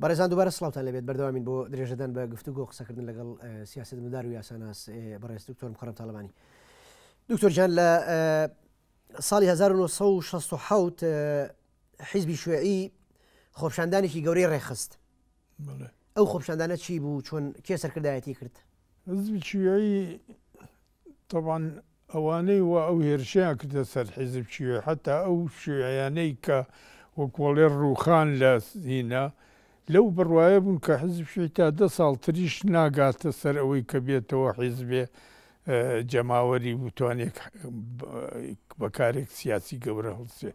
بەڕێزان دوبارە سڵاوتان لەبێت بەردەوامین بۆ درێژەدان بە گفتوگۆ قسەکردن لەگەڵ سیاست مدار و یاساناس بەڕێز دکتۆر مخڕم تاالبانی دکتۆرجان لە ساڵی 1960 حیزبی شوێعی خۆپشاندانێکی گەورەی ڕێخست ئەو خۆپشاندانە چی بوو چۆن کێ سەرکردایەتی کرد حزبی شوێعی تەبعەن ئەوانەی وا ئەو هێرشەیان کردە سەر حیزب شیوعی حەتا ئەو شیوعیانەی کە وەک وەڵێ ڕووخان لە هینا لەو بڕوایە بوون کە حیزب شیوعی تا دە ساڵ تریش ناگاتە سەر ئەوەی کە بێتەوە حیزبێ جەماوەری بتوانێ بە کارێک سیاسی گەورە هەڵسێ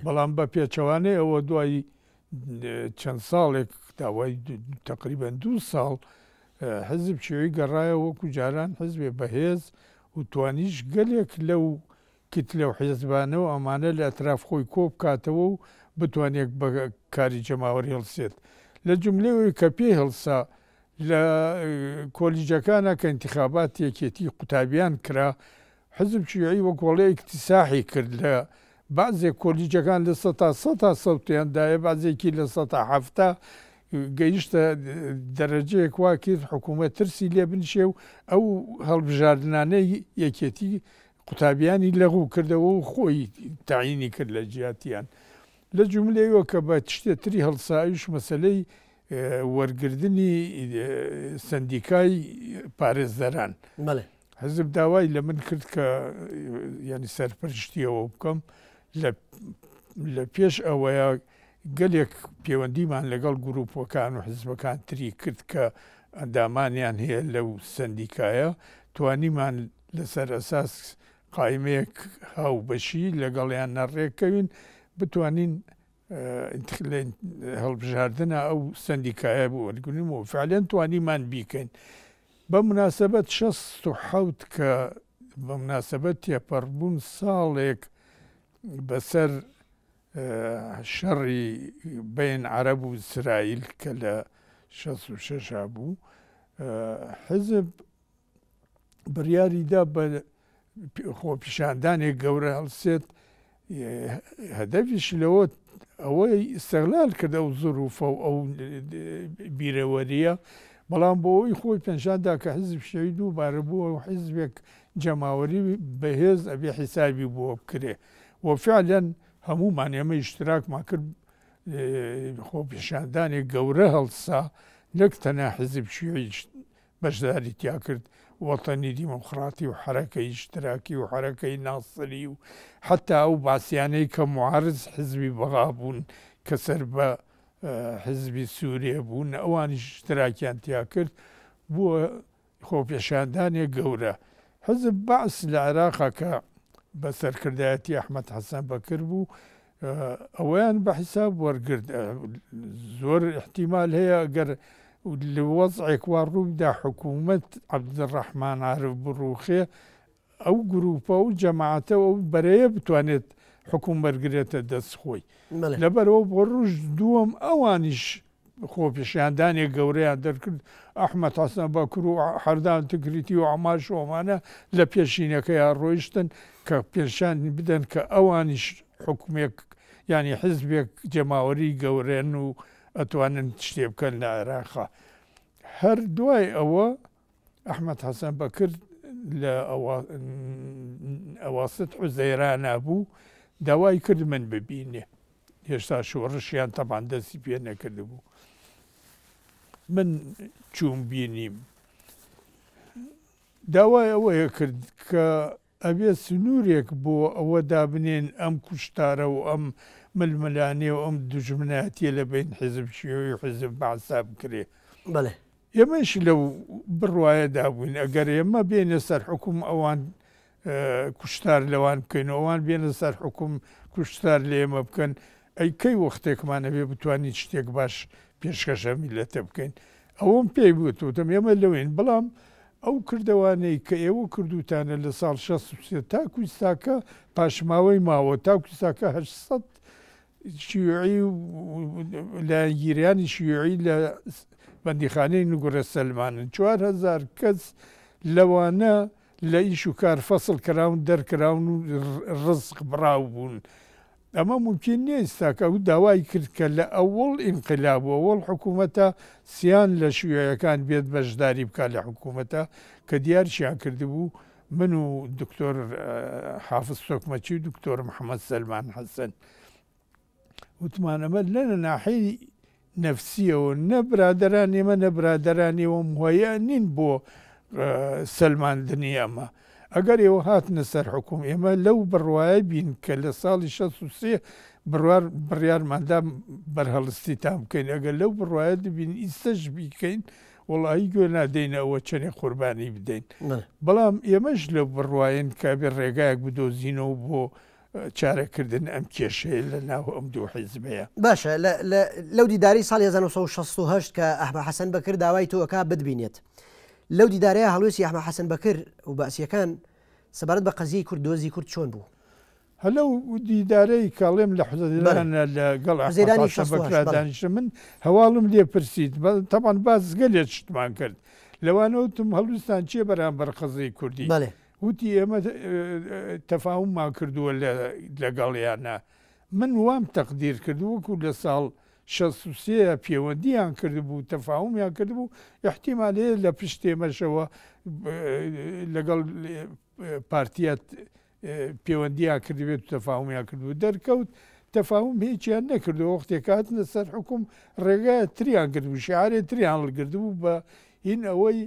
بەڵام بە پێچەوانەی ئەوە دوای چەند ساڵێک داوای تقریبەن دوو ساڵ حزب چێوی گەڕایە وەکو جاران حزبێ بەهێز و توانیش گەلێک لەو کت لەو حێزبانە و ئەمانە لە ئەتراف خۆی کۆ بکاتەوە و بتوانێت بە کاری جەماوەر هێڵسێت لە جملەوەی کە پێی هەڵسا لە کۆلیجەکانە کە انتخابات یەکێتی قوتابیان کرا حزب شیوعی وەک وەڵێ ئیکتیساحی کرد لە بەعزێ کۆلیجەکان لە سەتا سەتا سەوتیان دایە بەعزێکی لە سەتا حەفتا گەیشتە دەرەجەیەک وا کرد حکوومەت ترسی لێ بنشێ و ئەو هەڵبژاردنانەی یەکێتی قوتابیانی لەغوو کردەوە و خۆی تەعینی کرد لە جیاتیان لە جوملەیەوە کە بە تشتێ تری هەڵسایش مەسەلەی وەرگردنی سەندیکای پارێزەران. بەڵێ. حزب داوای لە من کرد کە ینی سەرپەرشتی ئەوە بکەم لە پێش ئەوەیە گەلێک پەیوەندیمان لەگەڵ گروپەکان و حزبەکان تری کرد کە ئەندامانیان هەیە لەو سندیکایە توانیمان لەسەر ئەساس قایمەیەک هاو بەشی لەگەڵیان نەڕێکەوین بتوانین هەڵبژاردنە ئەو سندیکایە بۆ وەرگن و فعلەن توانیمان بیکەین بەمناسەبەت شەست و حەوت کە بەمناسەبەت تێپەڕبوون ساڵێک بەسەر شەڕی بەین عەرەب و ئیسرائیل کە لە شەست و شەش هەبوو حزب بڕیاریدا بە خۆپیشاندانێک گەورە هەڵسێت، هەدەفیش لەوە ئەوەی ئیستغلال کرد ئەو زروفە و ئەو بیرەوەریە، بەڵام بۆ ئەوی خۆی پێنشاندا کە حیزب شەوی دووبارە بووە و حیزبێک جەماوەری بەهێز ئەبێ حیسابی بۆ بکرێ و فعلەن هەموومان ئێمە ئیشتراکمان کرد خۆپیشاندانێک گەورە هەڵسا نەک تەنها حیزب شیوعی بەشداری تیا کرد، وەتەنی دیموکڕاتی و حەرەکەی ئیشتراکی و حەرەکەی ناسری و حەتا ئەو بەعسیانەی کە موعارز حزبی بەغا بوون کە سەر بە حزبی سووریە بوون ئەوانیش ئیشتراکیان تیا کرد بووە خۆپێشاندانێک گەورە. حزب بەعس لە عێراقا کە بە سەرکردایەتی ئەحمەد حەسەن بەکر بوو ئەوەیان بە حیساب وەرگرت. زۆر ئیحتیمال هەیە گەر لە وەزعێک وا ڕووبدا حکوومەت عەبدولڕەحمان عارف بڕووخێ، ئەو گرووپە و جەماعەتە و ئەو بەرەیە بتوانێت حوکم وەرگرێتە دەست خۆی. لەبەرئەوە بۆ ڕۆژ دووەم ئەوانیش خۆپیشاندانێک گەورەیان دەرکرد، ئەحمەد حەسەن بەکر و حەردان تکریتی و عەمار شۆمانە لە پێشینەکەیا ڕۆیشتن کە پێشانی بدەن کە ئەوانیش حوکمێک یانی حزبێک جەماوەری گەورەن و ئەتوانن شتێ بکەن لە عێراقا. هەر دوای ئەوە، ئەحمەد حەسەن بەکر لە ئەواسط حوزەیرانا بوو، داوای کرد من ببینێ. هێشتا شۆڕشیان تەبان دەستی پێ نەکردبوو. من چووم بینیم. داوای ئەوەیە کرد کە ئەبێت سنوورێک بۆ ئەوە دابنێن ئەم کوشتارە و ئەم ململانێ و ئەم دوژمنایەتیە لە بەین حیزب شیوعی و حیزب بەعسدا بکرێ. بەلێ. ئێمەیش لەو بڕوایەدا بووین ئەگەر ئێمە بێینە سەر حوکم ئەوان کوشتار لەوان بکەین و ئەوان بێنە سەر حوکم کوشتار لە ئێمە بکەن ئەی کەی وەختێکمان ئەبێ بتوانین شتێک باش پێشکەش ئەم میللەتە بکەین ئەوەم پێی گوت، وتم ئێمە لەوێین، بەڵام ئەو کردەوانەی کە ئێوە کردووتانە لە ساڵ شەست و سێ تاکو ئیستاکە پاشماوەی ماوە، تاکو ئیستاکە هەشت سەد شیوعی و لایەنگیرانی شیوعی لە بەندیخانەی نوگرە سەلمانن، چوار هەزار کەس لەوانە لە ئیش و کار فەسڵ کراون، دەرکراون و ڕزق بڕاو بوون، ئەمە مومکین نیست تاکە ئەو داوای کرد کە لە ئەوەڵ ئینقلاب و ئەوەڵ حکوومەتە سیان لە شیوعیەکان بێت بەشداری بکات لە حکوومەتە کە دیارشیان کردبوو من و دکتۆر حافز تۆکمەچی و دکتۆر محەمەد سەلمان حەسەن وتمان ئەمە لەنە ناحێی نەفسیەوە نە برادەرانی ئەمە نە برادەرانی ئەوە موهەیا نین بۆ سەلماندنی ئەمە ئەگەر ئێوە هاتنە سەر حکوم ئێمە لەو بڕوایە بین کە لە ساڵی شەست و سێ بڕوار بڕیارماندا بەرهەڵستیتان بکەین ئەگەر لەو بڕوایە دبین ئیستەش بیکەین وڵایی گوێ نادەینە ئەوە چەنێ قوربانی بدەین بەڵام ئێمەش لە بڕواین کە بێ ڕێگایەک بدۆزینەوە بۆ چارە کردن ئەم کێشەیە لە ناو ئەم دوو حیزبەیە. باشە لە لە لەو دیدارەی ساڵی هەزار و نۆ سەد و شەست و هەشت کە ئەحمە حەسەن بەکر داوای تۆ ئەکا بتبینێت لەو دیدارەیا هەڵوێستی ئەحمە حەسەن بەکر و بەعسیەکان سەبارەت بە قەزیەی کورد دۆزی کورد چۆن بوو؟ هە لەو دیدارەی کە ئەڵێم لە بەلێ حوزەیرانە لە گەڵ ئەحمە حوزەیرانی حەسەن شەست و بەکرا هەشت بەڵێ. دانیشتم من هەواڵم لێ پرسیت بە تەبعەن باس گەلێ شتمان کرد لەوانە وتم هەڵویستان چیە بەرامبەر قەزیەی کوردی بەلێ. وتی ئێمە تەفاوممان کردووە لەگەڵیانا، من وام تەقدیر کرد وەکو لە ساڵ شەست و سێ ە پێوەندییان کردبوو تەفاومیان کردبوو، ئیحتیمال هەیە لە پشت ئێمەشەوە لەگەڵ پارتییە پێوەندییان کردبێت و تەفاومیان کردبوو، دەرکەوت تەفاوم هیچیان نەکردووە، وەختێک هاتنە سەر حوکم ڕێگایەک تریان گرتبوو، شیعارێک تریان هەڵگرتبوو بە هین ئەوەی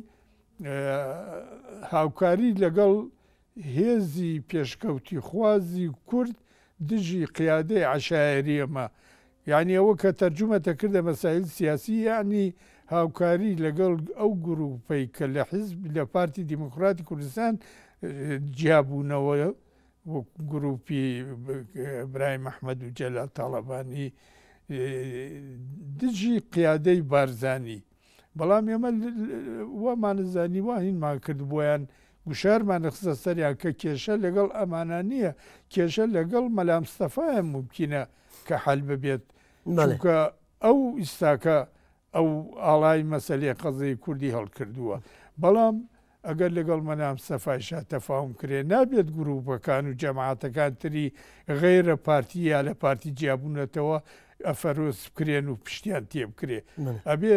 هاوکاری لەگەڵ هێزی پێشکەوتیخوازی کورد دژی قیادەی عەشایەری ئەمە یانی ئەوە کە تەرجومە تەکردە مەسایل سیاسی یانی هاوکاری لەگەڵ ئەو گروپەی کە لە حیزب لە پارتی دیموکراتی کوردستان جیابوونەوە وەک گروپی برای مححمد و جەلال تاڵەبانی دژی قیادەی بارزانی بەڵام ئێمە وامانزانی وا هینمان کرد بۆیان گوشارمان دەخستە سەریان کە کێشە لەگەڵ ئەمانە نییە کێشە لەگەڵ مەلامستەفایە مومکینە کە حەل ببێت چونکە ئەو ئیستاکە ئەو ئاڵای مەسلەی قەزەی کوردی هەڵکردووە بەڵام ئەگەر لەگەڵ مەلام سەفای شا تەفاوم کرێ نابێت گرووپەکان و جەماعەتەکان تری غەیرە پارتی یا لە پارتی جیابوونەتەوە ئەفەرۆز بکرێن و پشتیان تێ بکرێ ئەبێ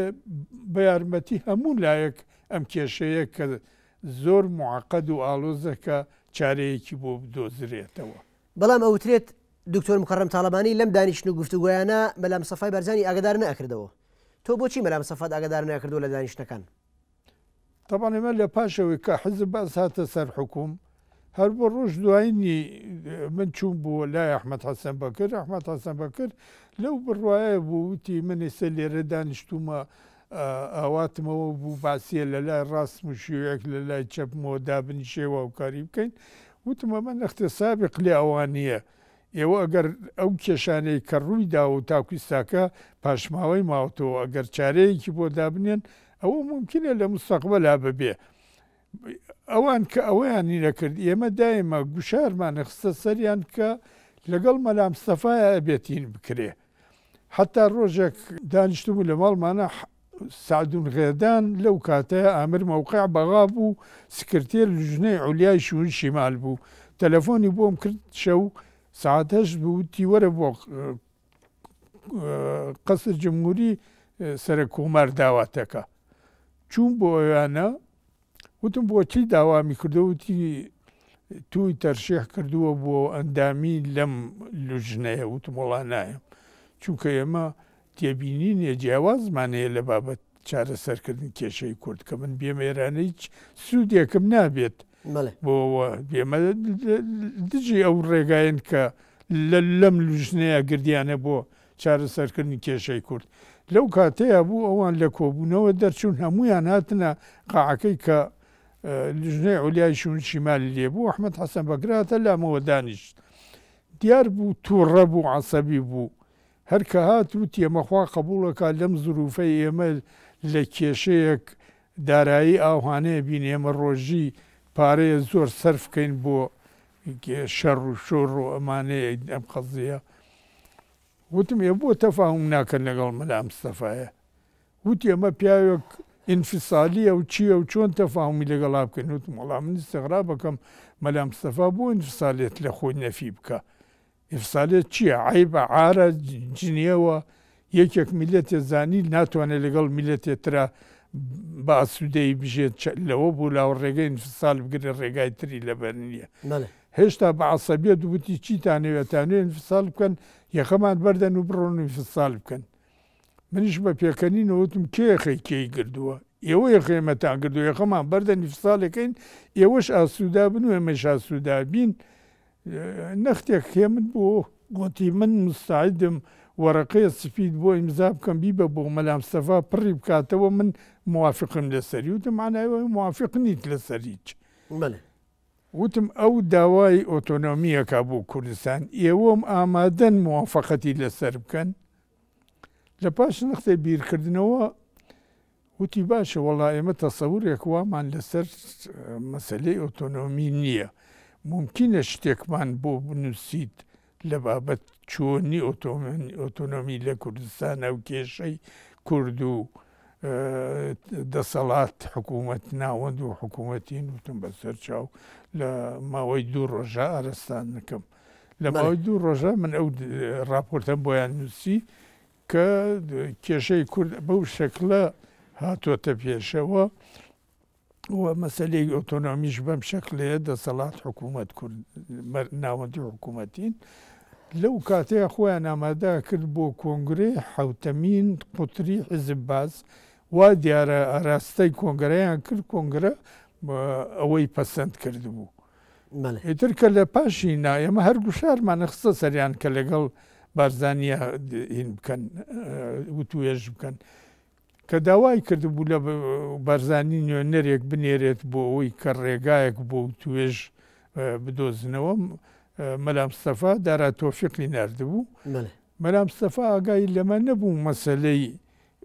بە یارمەتی هەموو لایەک ئەم کێشەیە کە زۆر معقد و ئاڵۆزە کە چارەیەکی بۆ بدۆزرێتەوە. بەڵام ئەوترێت دکتۆر مکەڕەم تاڵەبانی لەم دانیشتن و گفتوگۆیانە مەلام سەفای بارزانی ئاگەدار نەئەکردەوە تۆ بۆچی مەلام سەفات ئاگەدار نەکردووە لە دانیشتنەکان؟ تەبعەن ئێمە لە پاش ئەوەی کە حیزب بەعس هاتە سەر حوکوم، هەر بۆ ڕۆژ دوایینی من چووم بۆ لای ئەحمەد حەسەن بەکر، ئەحمەد حەسەن بەکر لەو بڕوایە بوو، وتی من ئێستا لێرە دانیشتوومە ئاواتمەوە بوو بەعسییە لە لای ڕاستم و شیوعێک لە لای چەپمەوە دابنیشێ و هاوکاری بکەین، وتم ئەمە نەختێ سابق لە ئەوانییە، ئێوە ئەگەر ئەو کێشانەی کە ڕووی داوە و تاکو ئیستاکە پاشماوەی ماوەتەوە ئەگەر چارەیەکی بۆ دابنێن ئەوە مومکینە لە موستەقبەلا ببێ ئەوان کە ئەوەیانی نەکرد ئێمە دایمە گوشارمانی خستە سەریان کە لەگەڵ مەلا مستەفایە ئەبێت هین بکرێ حەتا ڕۆژێک دانیشتبوو لە ماڵمانا سەعدون غێدان لەو کاتەیە ئامر مەوقع بەغا بوو سکرتێر لجنەی عولیای شوون شیمال بوو تەلەفۆنی بۆم کرد شەو سەعات هەشت بوو وتی وەرە بۆ قەسر جمهوری سەرەک کۆمار داواتەکە چووم بۆ ئەوێانە وتم بۆچی داوامی کردووە؟ وتی تووی تەرشیح کردووە بۆ ئەندامی لەم لوجنەیە؟ وتم وەڵا نایەم چونکە ئێمە تێبینینێ جیاوازمان هەیە لە بابەت چارەسەرکردنی کێشەی کورد کە من بێم ئێرانە هیچ سوودێکم نابێت بۆ بێمە دژی ئەو ڕێگایەن کە لەم لوجنەیە گردیانە بۆ چارەسەرکردنی کێشەی کورد لەو کاتەیا بوو ئەوان لە کۆبوونەوە دەرچوون هەموویان هاتنە قاعەکەی کە لژنەی عولیای شوون شیمالی لێ بوو ئەحمەد حەسەن بەکرە هاتە لامەوە دانیشت دیار بوو تووڕە بوو عەسەبی بوو هەر کە هات وتی ئەمە خوا قەبووڵەکا لەم زروفەی ئێمە لە کێشەیەک دارایی ئاوهانەیە بین ئێمە ڕۆژی پارەیە زۆر سەرف کەین بۆ شەڕ و شۆڕ و ئەمانەیە ئەم قەزیە وتم ئێ بۆ تەفاهم ناکەن لەگەڵ مەلا مستەفایە وتی ئەمە پیاوێک ئینفسالیە و چیە و چۆن تەفاهمی لەگەڵا بکەین وتم وەڵا من ئیستغراب ئەکەم مەلا مستەفا بۆ ئینفسالیەت لە خۆی نەفی بکا ئیفسالێت چیە عەیبە عارە جنێو ە یەکێک میلەتێ زانی ناتوانێ لەگەڵ میلەتێ ترا بە ئاسودەیی بژێت چ لەوە بو لاوە ڕێگەی ئینفسال بگرێ ڕێگای تری لەبەر نیە هێشتا بە عەسەبیەت وتی چیتانەوێ ئەتانوێ ئینفسال بکەن یەخەمان بەردەن و بڕۆن و ئینفسال بکەن منیش بە پێکەنین وتم کێ یەخەی کێی گردوە ئێوە یەخەی ئێمەتان گردوە یەخەمان بەردەن ئینفسالێکەین ئێوەش ئاسودا بن و ئێمەش ئاسودا بین نەختێک خێمت بۆ گۆتی من موستەعیدم وەرەقەیە سفید بۆ ئیمزا بکەم بیبە بۆ مەلا مستەفا پڕی بکاتەوە من موافقم لەسەری وتم مەعنای ئەوەیە موافق نیت لەسەر هیچ بەلێ. وتم ئەو داوای ئۆتۆنۆمی ئەکا بۆ کوردستان ئێوەم ئامادەن موافەقەتی لەسەر بکەن لەپاش نەختێ بیرکردنەوە وتی، باشە وەڵا ئێمە تەسەورێک وامان لەسەر مەسەلەی ئۆتۆنۆمی نییە، مومکینە شتێکمان بۆ بنووسیت لە بابەت چۆنی ئۆتۆنۆمی لە کوردستانە و کێشەی کورد و دەسەڵات، حکوومەت، ناوەند و حکوومەتین؟ وتم بەسەر چاو لە ماوەی دوو ڕۆژە ئارەستان دەکەم. لە ماوەی دوو ڕۆژە من ئەو ڕاپۆرتەم بۆیان نووسی، کە کێشەی کورد بەو شەکلە هاتۆتە پێشەوە و مەسەلەی ئۆتۆنۆمیش بەم شەکلەیە دەسەڵات حکوومەت کورد ناوەندی حکوومەتین لەو کاتەیە خۆیان ئامادا کرد بۆ کۆنگری حوتەمین قوتری حزب باز وا دیارە ئاراستای کۆنگرەیان کرد کۆنگرە ئەوەی پەسەند کرد بوو. ئیتر کە لە پاشی نا ئێمە هەر گوشارمان نەخستە سەریان کە لەگەڵ بارزانیە هین بکەن وتوێژ بکەن کە داوای کردبوو لە بارزانی نوێنەرێک بنێرێت بۆ ئەوەی کە ڕێگایەک بۆ توێژ بدۆزنەوە مەلامستەفا دارا تۆفیقی نردبوو مەلامستەفا ئاگای لەمە نەبوو مەسلەی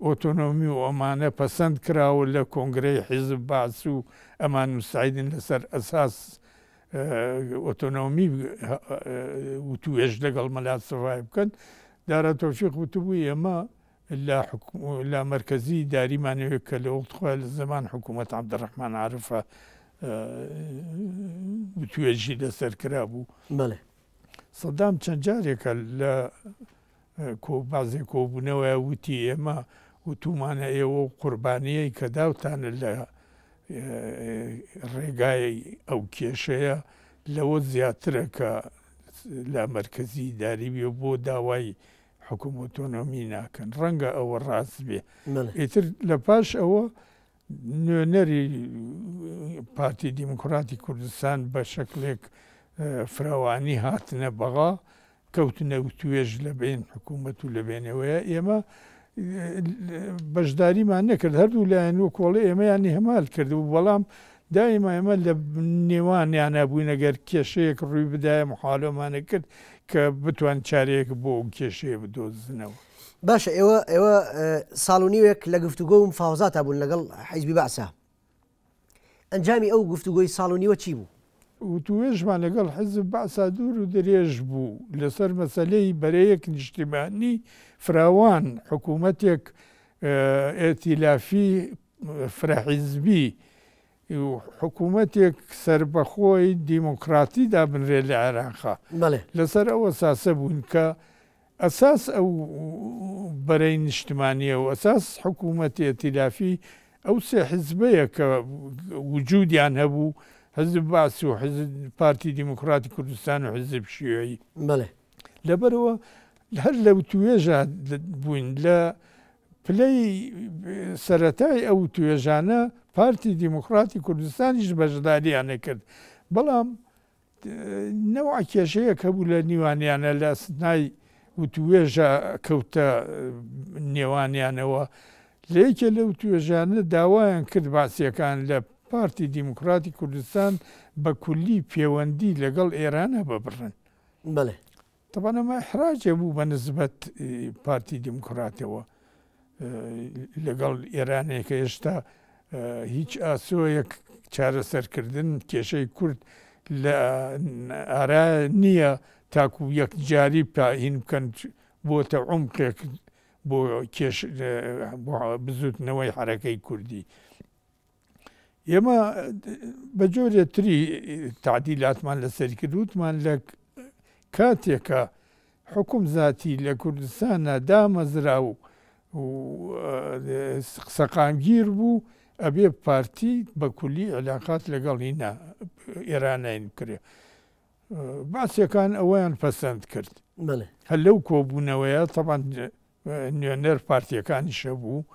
ئۆتۆنۆمی و ئەمانە پەسەند کراوە لە کۆنگرەی حیزب بەعس و ئەمان مستعیدن لەسەر ئەساس ئۆتۆنۆمی وتووێژ لەگەڵ مەلا سڤای بکەن دارا تۆفیق وتبووی ئێمە لە لە مەرکەزی داریمانەوێت کە لە وەخت خۆیان لە زەمان حکوومەت عەبدڕەحمان عارفە وتوێژی لەسەر کرابوو بەڵێ سەدام چەند جارێکە لە کۆبازێ کۆبوونەوەیە وتی ئێمە وتومانە ئێوە و قوربانیەی کە داوتانە لە ڕێگای ئەو کێشەیە لەوە زیاترە کە لا مەرکەزی داری بێ بۆ داوای حکوم ئۆتۆنۆمی ناکەن ڕەنگە ئەوە ڕاست بێ ئیتر لە پاش ئەوە نوێنەری پارتی دیموکراتی کوردستان بە شەکلێک فراوانی هاتنە بەغا، کەوتنە وتوێژ لە بەین حکوومەت و لە بێنەوەیە، ئێمە بەشداریمان نەکرد، هەردوو لایەن وەک وەڵی ئێمەیان ئیهمال کردبوو، بەڵام دایمە ئێمە لە نێوانیانە بووین، ئەگەر کێشەیەک ڕووی بدایە محاولەمانە کرد کە بتوان چارەیەک بۆ ئەو کێشەیە بدۆزنەوە. باشە ئێوە ئێوە ساڵ و نیوێک لە گفتوگۆ و مفاوەزاتا بوون لەگەڵ حیزبی بەعسا. ئەنجامی ئەو گفتوگۆی ساڵ و نیوە چی بوو؟ وتووێژمان لەگەڵ حیزب بەعسا دوور و درێژ بوو لەسەر مەسەلەی بەرەیەک نیشتیمانی فراوان، حکوومەتێک ئێتیلافی فرەحیزبی و حکوومەتێک سەربەخۆی دیموکراتی دابنرێت لە عێراق لەسەر ئەو ئەساسە بوون کە ئەساس ئەو بەرەی نیشتمانییە و ئەساس حکوومەتی ئێتیلافی ئەو سێ حیزبەیە کە وجوودیان هەبوو، حیزب بەعس و حیزب پارتی دیموکراتی کوردستان و حیزب شیوعی. لەبەرەوە هەر لەوتوێژە بووین لە پلەی سەرەتای ئەو توێژانە پارتی دیموکراتی کوردستانیش بەشدارییانی کرد، بەڵام نەوعە کێشەیەک هەبوو لە نیوانیانە لە ئەسنای وتوێژە کەوتە نێوانیانەوە، لە یەکێ لەو توێژانە داوایان کرد بەعسییەکان لە پارتی دیموکراتی کوردستان بە کولی پێوەندی لەگەڵ ئێران هەببڕن. بەڵێ. تەبعەن ئەمە ئیحراجێ بوو بە نسبەت پارتی دیموکراتەوە لەگەڵ ئێرانێ کە ئێشتا هیچ ئاسۆیەک چارەسەرکردن کێشەی کورد لە ئارا نییە تاکو یەکجاری پاین بکەن بۆتە عمقێک بۆ کێش بۆ بزوتنەوەی حرەکەی کوردی. ئێمە بە جۆرێ تری تعدیلاتمان لەسەری کرد وتمان لە کاتێکە حکوم زیاتی لە کوردستانە دامەزرا و سەقامگیر بوو ئەبێ پارتی بە کولی علااقات لەگەڵی نا ئێرانین کرێ باسیەکان ئەویان پەسەند کرد هەر لەو کۆبوونەوەیە تەبان نوێنەر پارتییەکانیش هەبوو،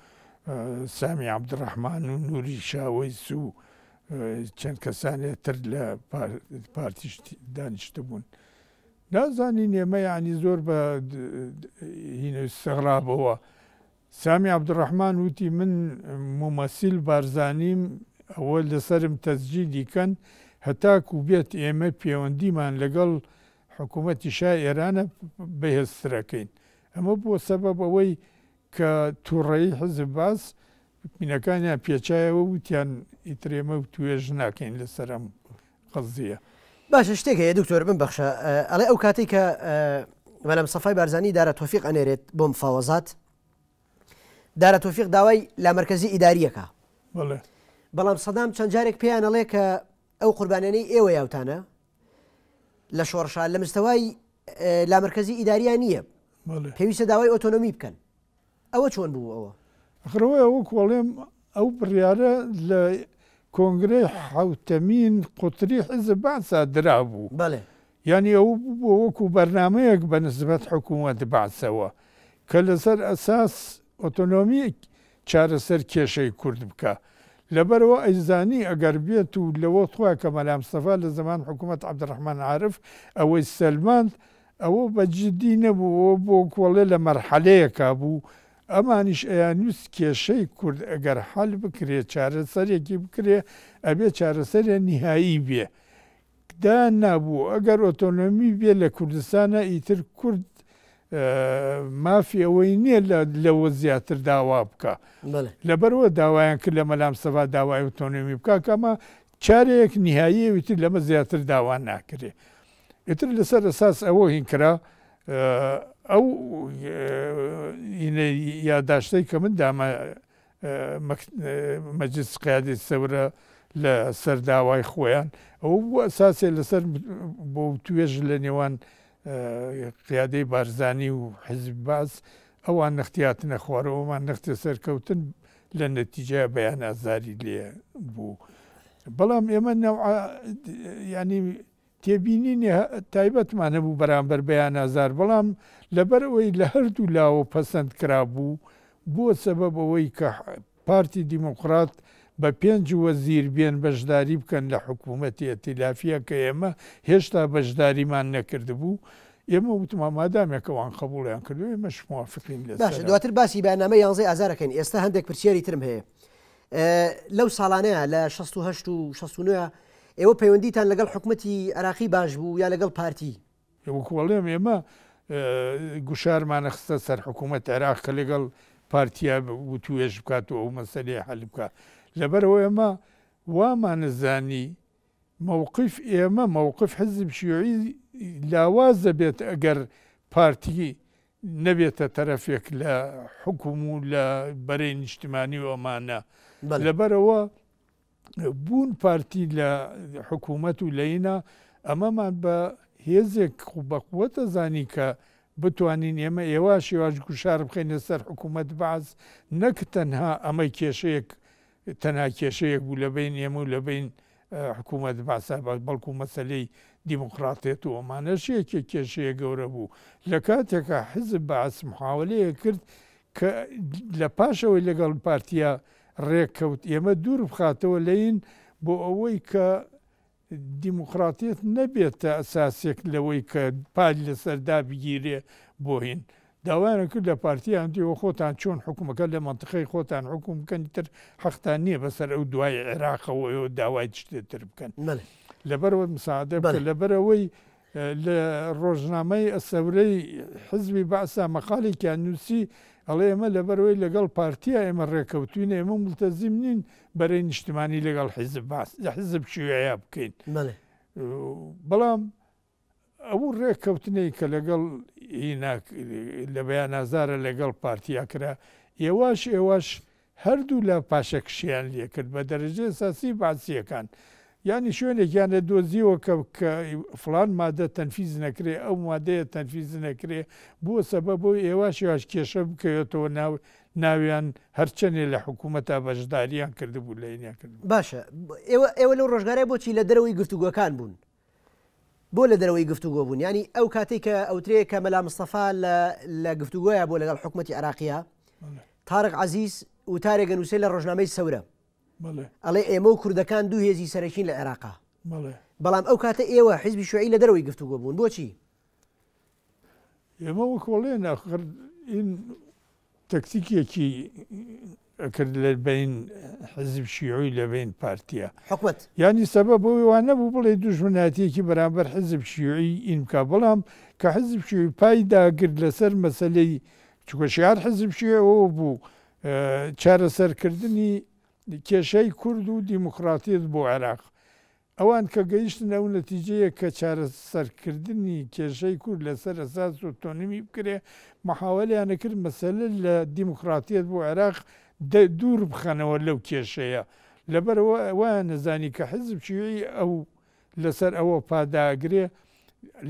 سامی عەبدولڕەحمان و نووری شاوەیس و چەند کەسانێ تر لە پارتیش دانیشتبوون. نازانین ئێمە یەعنی زۆر بە هینە ئیستغرابەوە سامی عەبدولڕەحمان وتی من مومەسیل بارزانیم، ئەوە لەسەرم تەسجیلی کەن هەتاکوو بێت ئێمە پێوەندیمان لەگەڵ حکوومەتی شای ئێرانە بەهێزتر ئەکەین. ئەمە بووە سەبەب ئەوەی کە توڕەیی حیزب بەعس مینەکانیان پێچایەوە وتیان ئیتر ئێمە توێژ ناکەین لەسەر ئەم قەزیە. باشە شتێک هەیە دکتۆر بمبەخشە ئەڵێ ئەو کاتەی کە مەلا مستەفای بارزانی دارا تۆفیق ئەنێرێت بۆ مفاوەزات دارا تۆفیق داوای لامەرکەزی ئیداریەکە بەڵێ بەڵام سەدام چەند جارێک پێیان ئەڵێ کە ئەو قوربانیانەی ئێوە یاوتانە لە شۆڕشا لە مستەوای لامەرکزی ئیداریان نییە پێویستە داوای ئۆتۆنۆمی بکەن ئەوە چۆن بوو ئەوە خڕەوەی ئەوە کۆڵێم ئەو بڕیارە لە کۆنگرەی حوتەمین قوتری حزب باسا درا بوو بەڵێ ینی ئەو بۆ وەکو بەرنمەیەک بە نسبەت حکوومەت باسەوە کە لەسەر ئەساس ئۆتۆنۆمی چارەسەر کێشەی کورد بکا لەبەرئەوە ئەیزانی ئەگەر بێت و لەوەخت خۆیان کە مەلامستەفا لە زەمان حکومەت عبدالرحمن عارف ئەوەی سەلماند ئەوە بە جدی نەبوو ئەوە بۆ کۆڵێ لە مەرحەلەیەکا بوو ئەمانیش ئەیانویست کێشەی کورد ئەگەر حەل بکرێ چارەسەرێکی بکرێ ئەبێ چارەسەرێ نیهایی بێ دا نابوو ئەگەر ئۆتۆنۆمی بێ لە کوردستانا ئیتر کورد مافی ئەوەی نیە لە لەوە زیاتر داوا بکا لەبەرئەوە داوایان کرد لە مەلا مستەفا داوای ئۆتۆنۆمی بکا کە ئەمە چارەیەک نیهاییە ئیتر لەمە زیاتر داوا ناکرێ ئیتر لەسەر ئەساس ئەوە هین کرا ئەو یاداشتەی کە من دامە مەجلس قیادەی سەورە لە سەر داوای خۆیان ئەوە بوو ئەساسێ لەسەر بۆ توێژ لە نێوان قیادەی بارزانی و حزب باز ئەوان نەختیاتنە خوارەوەمان نەختە سەرکەوتن لە نەتیجە بەیان ئازاری لێ بوو بەڵام ئێمە نەوع ینی تێبینینی تایبەتمان هەبوو بەرامبەر بە یان ئازار، بەڵام لەبەر ئەوەی لە هەردوو لاوە پەسەند کرابوو، بووە سەبەب ئەوەی کە پارتی دیموکرات بە پێنج وەزیر بێن بەشداری بکەن لە حکوومەتی ئەتیلافییە کە ئێمە هێشتا بەشداریمان نەکردبوو. ئێمە وتمان مادامێک ئەوان قەبووڵیان کردووە ئێمەش موافقین لەسەر. باشە دواتر باسی بەیاننامەی یانزەی ئازارەکەین. ئێستا هەندێک پرسیاری ترم هەیە. لەو ساڵانەیە لە شەست و هەشت و شەست و نۆیە ئێوە پەیوەندیتان لەگەڵ حکومەتی عێراقی باش بوو یا لەگەڵ پارتی؟ وەکو ئەڵێم ئێمە گوشارمانە خستە سەر حکوومەت عێراق کە لەگەڵ پارتیا وتوێژ بکات و ئەو مەسەلەیە حەل بکا لەبەرەوە ئێمە وامانزانی مووقف ئێمە مووقف حزب شیوعی لاواز دەبێت ئەگەر پارتی نەبێتە تەرەفێک لە حکوم و لە بەرەی نیشتمانی و ئەمانە لەبەرەوە بوون پارتی لە حکوومەت و لەینا ئەمەمان بە هێزێک بەقوەتە زانی کە بتوانین ئێمە ئێواش یواش گوشار بخینە سەر حکوومەت باز نەک تەنها ئەمەی کێشەیەک تەنها کێشەیەک بوو لەبەین ئێمە و لەبەین حکوومەت بەعسا بەس بەڵکو مەسەلەی دیموکراتێت و ئەمانەش یەکێ کێشەیە گەورە بوو لە کاتێکا حزب بەعس محاوەلەیە کرد کە لە پاشەوەی لەگەڵ پارتیا ڕێک کەوت ئێمە دوور بخاتەوە لەین بۆ ئەوەی کە دیموکراتیەت نەبێتە ئەساسێک لەوەی کە پای لەسەر دابگیرێ بۆ هین داوایان کرد لە پارتی یان دیوە خۆتان چۆن حکومەکە لە مەنتقەی خۆتان حکوم بکەن ئیتر حەقتان نییە بەسەر ئەو دوای عێراقەوە ئێوە داوای شتێتر بکەن بەلێ لەبەرەوەت مساعدە بەلێ. بکە لەبەرەوەی لە ڕۆژنامەی الثورەی حزبی بەعسا مەقالێکیان نووسی، ئەڵێ ئێمە لەبەرئەوەی لەگەڵ پارتیە ئێمە ڕێکەوتووین، ئێمە مولتەزیم نین بەرەی نیشتمانی لەگەڵ حزب بەعس، حزب شیوعیە بکەین. بەڵام ئەو ڕێکەوتنەی کە لەگەڵ لە بەیانازارە لەگەڵ پارتیا کرا، ئێواش ئێواش هەردوو لا پاشەکشەیان لێکرد بە دەرەجەی ئەساسی بەعسییەکان. یانی شوێنێکیان لێ دۆزییەوە کە کە فڵان مادە تەنفیز نەکرێ، ئەو مادەیە تەنفیز نەکرێ، بووە سەبەب ئەوەی ئێواش یواش کێشە بکەوێتەوە ناو ناویان، هەرچەنێ لە حکوومەتا بەشدارییان کردبوو لە ئینەکردن. باشە، ئێوە ئێوە لەو ڕۆژگارە بۆچی لە دەرەوەی گفتوگۆکان بوون؟ بۆ لەدەرەوەی گفتوگۆ بوون ینی ئەو کاتێک کە ئەوترەیە کە مەلا مستەفا لە گفتوگۆیە بۆ لەگەڵ حکوومەتتی عراقیە تارق عزیز وتارێگە نووسێ لە ڕۆژنامەی سەورە ئەڵێ ئێمە و کوردەکان دوو هێزی سەرەکین لە عێراقا بەڵام ئەو کاتە ئێوە حیزبی شوعی لە دەرەوەی گفتوگۆ بوون بۆچی ئێمە وەک ئەڵێن ئاخر ئین تەکتیکێکی ئەکرد لە بەین حزب شیوعی لە بەین پارتیە حکومت یانی سەبە بۆ وانە بوو بڵێ دوژمناتیەکی بەرامبەر حزب شیوعی ئینکا بەڵام کە حزب شوی پای داگرت لەسەر مەسلەی چکە شار حزب شێەوە بوو چارەسەرکردنی کێشەی کورد و دیموکراتیت بۆ عێراق ئەوان کە گەیشتن ئەو نەتیجەیە کە چارەسەرکردنی کێشەی کورد لەسەر ئەساس ئۆتۆنمی بکرێ، محاوەلیانە کرد مەسەلە لە دیموکراتیەت بۆ عێراق دوور بخەنەوە لەو کێشەیە، لەبەرئەوە وایان نەزانی کە حیزب شیوعی ئەو لەسەر ئەوە پا داگرێ،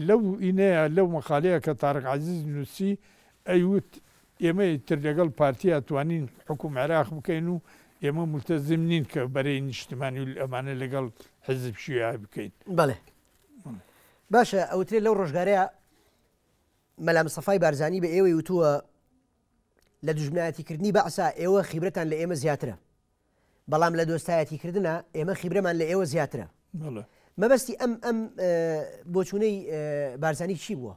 لەو ئینەیە لەو مەقالەیە کە تارق عەزیز نووسی ئەیوت، ئێمە ئیتر لەگەڵ پارتیا توانین حوکم عێراق بکەین و ئێمە مولتەزم نین کە بەرەی نیشتمانی و ئەمانە لەگەڵ حیزب شیوعی بکەین. بەڵێ باشە ئەوترێ لەو ڕۆژگارەیە مەلا مستەفای بارزانی بە ئێوەی وتووە لە دژمنایەتیکردنی بەعسا ئێوە خیبرەتان لە ئێمە زیاترە بەڵام لە دۆستایەتیکردە ئێمە خیبرەمان لە ئێوە زیاترە مەبەستی ئەم ئەم بۆچوونەی بارزانی چی بووە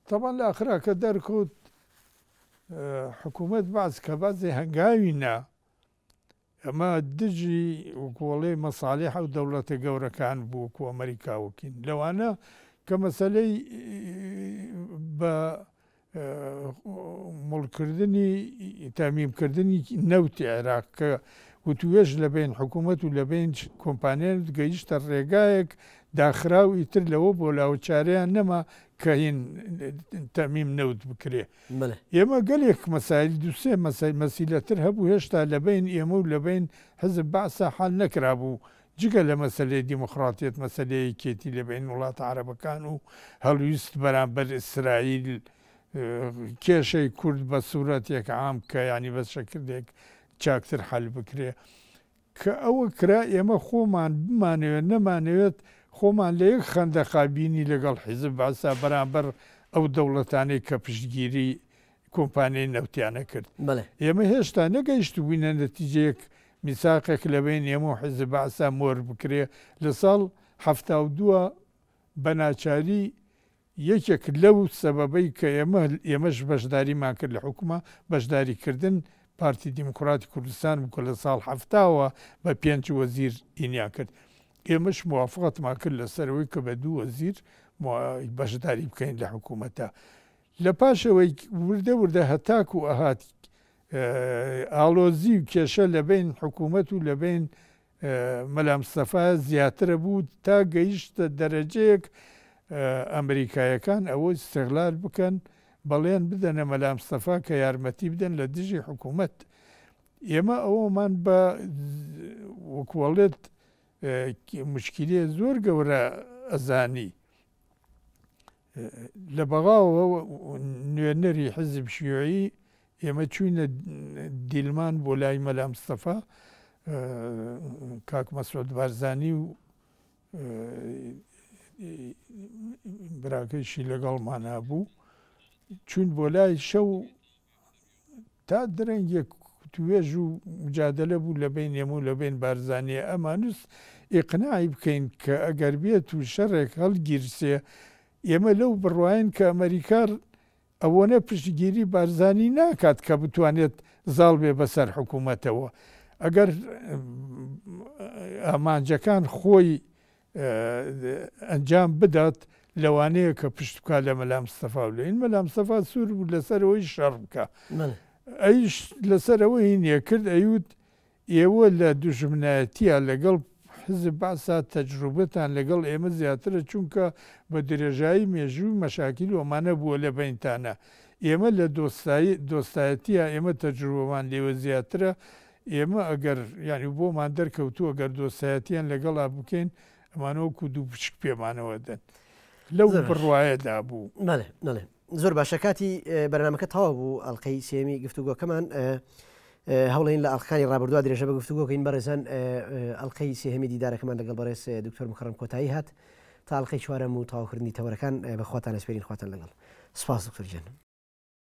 تەبعەن لە ئاخرا کە دەرکەوت حکوومەت بەعس کە بەعسی هەنگاوی نا، ئەمە دژی وەکوو ئەڵێی مەسالیح و دەوڵەتە گەورەکان بوو وەکوو ئەمەریکا و کین. لەوانە کە مەسەلەی بە مڵ کردنی تامیم کردنی نەوتی عێراق کە وتووێژ لە بەین حکوومەت و لە بەین کۆمپانیا گەیشتە ڕێگایەک داخرا و ئیتر لەوە بۆ لاوە چارەیان نەما کە هین تەمیم نەوت بکرێ ئێمە گەلێک مەسایل دوو سێ مەسەی مەسیلە تر هەبوو هێشتا لە بەین ئێمە و لە بەین حزب بەعسا حەل نەکرابوو جگە لە مەسەلەی دیموقراطیەت مەسەلەی یەکێتی لە بەین وڵاتە عەرەبەکان و هەڵویست بەرامبەر ئیسرائیل کێشەی کورد بە سورەتێک عام کە یانی بە شەکردێک چاکتر حەل بکرێ کە ئەوە کرا ئێمە خۆمان بمانەوێت نەمانەوێت خۆمان لە یەک خەندەقا بینی لەگەڵ حیزب بەعسا بەرامبەر ئەو دەوڵەتانەی کە پشتگیری کۆمپانیای نەوتیان ئەکرد. بەڵێ. ئێمە هێشتا نەگەیشتبووینە نەتیجەیەک میساقێک لە بەین ئێمە و حیزب بەعسا مۆر بکرێ لە ساڵ حەفتا و دوو بە ناچاری یەکێک لەو سەبەبەی کە ئێمە ئێمەش بەشداریمان کرد لە حوکمە، بەشداری کردن پارتی دیموکراتی کوردستان بوو کە لە ساڵ حەفتا وە بە پێنج وەزیر ئینیان کرد. ئێمەش موافقەتمان کرد لە سەر ئەوەی کە بە دوو وەزیر بەشداری بکەین لە حکوومەتا. لە پاش ئەوەی وردە وردە هەتاکوو ئەهات ئاڵۆزی و کێشە لە بەین حکوومەت و لە بەین مەلا مستەفا زیاترە بوو تا گەیشتە دەرەجەیەک ئەمریکایەکان ئەوە ئیستغلال بکەن بەڵێن بدەنە مەلا مستەفا کە یارمەتی بدەن لە دژی حکوومەت ئێمە ئەوەمان بە وەکوەڵێت مشکیلێ زۆر گەورە ئەزانی لە بەغاوە نوێنەری حزب شیوعی، ئێمە چووینە دیلمان بۆ لای مەلا مستەفا کاک مەسعود بارزانی و براکەیشی لەگەڵمان هەبوو، چووین بۆ لای شەو تا درەنگێک وتوێژ و مجادەلە بوو لە بەین ئێمە و لە بەین بارزانیە ئەمانوس ئیقناعی بکەین کە ئەگەر بێت و شەرێک هەڵگیرسێ ئێمە لەو بڕواین کە ئەمەریکا ئەوەنە پشتگیری بارزانی ناکات کە بتوانێت زاڵ بێ بەسەر حکوومەتەوە ئەگەر ئامانجەکان خۆی ئەنجام بدات لەوانەیە کە پشت بکات لە مەلا مستەفا و لێن مەلا مستەفا سوور بوو لەسەر ئەوەی شەڕ بکا ئەویش لەسەر ئەوەی نییە کرد ئەیوت ئێوە لە دوژمنایەتیە لەگەڵ حزب بەعسا تەجروبەتان لەگەڵ ئێمە زیاترە چونکە بە درێژایی مێژوو مەشاکیل ئەمانە بووە لە بەینتانا ئێمە لە دۆستایی دۆستایەتیە ئێمە تەجروبەمان لێوە زیاترە ئێمە ئەگەر یانی بۆمان دەرکەوتووە گەر دۆستایەتیان لەگەڵا بکەین ئەمانە وەکو دوو پشک پێمانەوە دەن لەو زۆر باش. بڕوایەدا بوو بەڵێ بەڵێ زۆر باشە کاتی ئە، بەرنمەکە تەواو بوو ئەڵلقەی سێمی گفتوگۆکەمان ئە، ئە، هەوڵین لە ئەڵلقەکانی ڕابردووا درێژە بە گفتوگۆکەین بەڕێزان ئە، ئە، ئەڵلقەی سێهەمی دیدارەکەمان لەگەڵ بەڕێز ئە، دکتۆر موکەڕەم کۆتایی هات تا ئەڵلقەی چوارەم و تەواوکردنی تەوەرەکان ئە، بەخواتان ئەسپێرین خواتان لەگەڵ سپاس دکتۆر گیان.